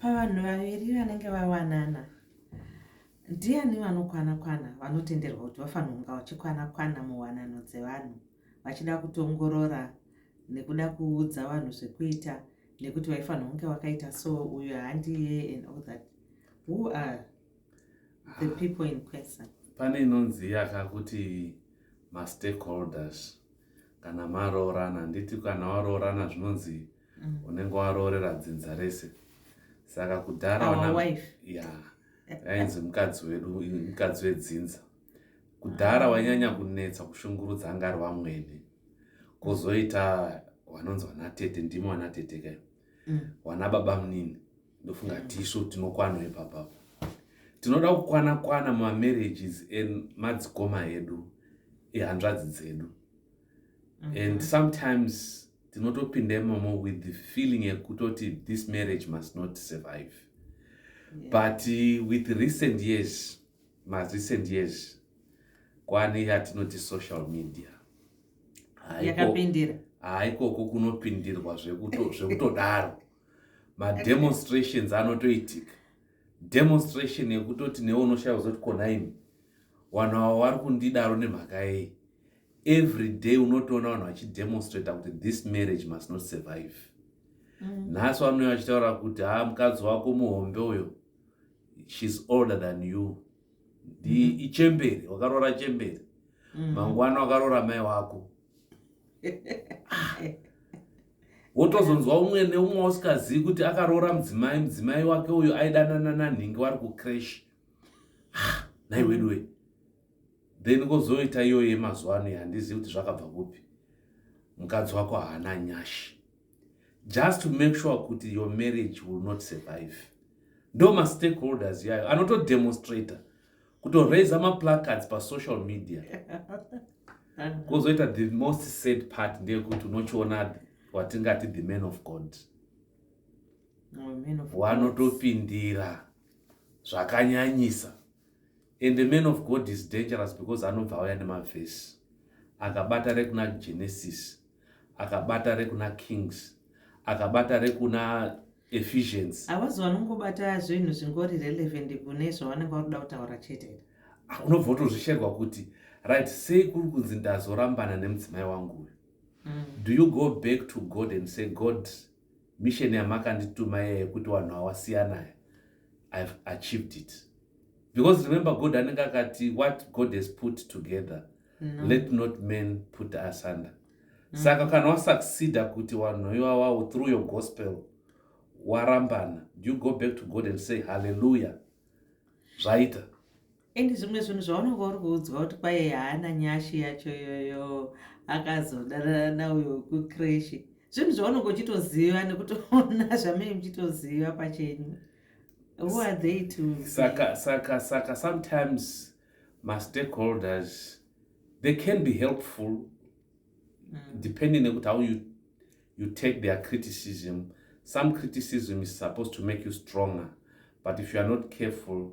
Pavanhu vaviri vanenge vawanana, ndiani vanokwana-kwana vanotenderwa kuti vafanonga vachikwana-kwana muwanano dzevanhu vachida kutongorora nekuda kuudza vanhu zvekuita nekuti vaifanira kunge vakaita so uyo handiye and all that who are the people in question pane inonzi yaka kuti mastakeholders kana maroorana handiti kana waroorana zvinonzi ma mm. unenge waroorera dzinza rese saka kudhara ya ainzi mukadzi wedu mukadzi wedzinza kudhara wainyanya kunetsa kushungurudza anga ari vamwene kozoita vanonzi vanatete ndimo vanatete kayo mm. vana baba munini ndofunga mm. tisu tinokwano ipapapo tinoda kukwana kwana mamarriages emadzikoma edu ehanzvadzi dzedu and mhm. sometimes tinotopinda imomo with the feeling yekutoti this marriage must not survive yeah. but uh, with recent years marecent years kwane yatinoti social media haikoko kunopindirwa zvekutodaro mademonstrations anotoitika demonstration yekutoti newe unoshaya kuzoti konaimi wanhu avo vari kundidaro nemhaka yei every day unotoona vanhu vachidemonstrata kuti this marriage must not survive mm. nhasi vanouya vachitaura kuti ha ah, mukadzi wako muhombe uyo shes older than you mm. ichemberi wakaroora chemberi mm. mangwana wakaroora mai wako wotozonzwa umwe neumwe wausikazivi kuti akaroora mudzimai mudzimai wake uyo aidanana nanhingi wari kucrash ah, naiweduwe mm. then kozoita iyoyo yemazuva ano handizivi kuti zvakabva kupi mukadzi wako haana nyashi just to make sure kuti your marriage will not survive ndo mastakeholders yayo anotodemonstrator kutoraiza maplacards pasocial media kozoita the most sad part ndeyekuti unochiona watingati the man of god wanotopindira zvakanyanyisa and the man of god is dangerous because anobva auya nemavhesi akabata rekuna genesis akabata rekuna kings akabata rekuna ephesians avazi vanongobata zvinhu zvingori relevant kune zvavanenge vakuda kutaura chete ah, unobva utozvisherwa kuti right sei kuri kunzi ndazorambana nemudzimai wangu uyu mm. do you go back to god and say god misheni yamakandituma yeye kuti vanhu awasiyanaya i've achieved it because remember god anenge akati what god has put together no. let not men put asunder mm. saka kana wasucceda kuti wanhu iwawawo through your gospel warambana do you go back to god and say halleluya zvaita and zvimwe zvinhu zvaunenge uri kuudzwa kuti kwaye haana nyashi yacho iyoyo akazodanana nauyo wekukreshi zvinhu zvaunenge uchitoziva nekutoona zvamei muchitoziva pachenyu who are they to saka saka saka sometimes mastakeholders they can be helpful mm. depending nekuti how you, you take their criticism some criticism is supposed to make you stronger but if you are not careful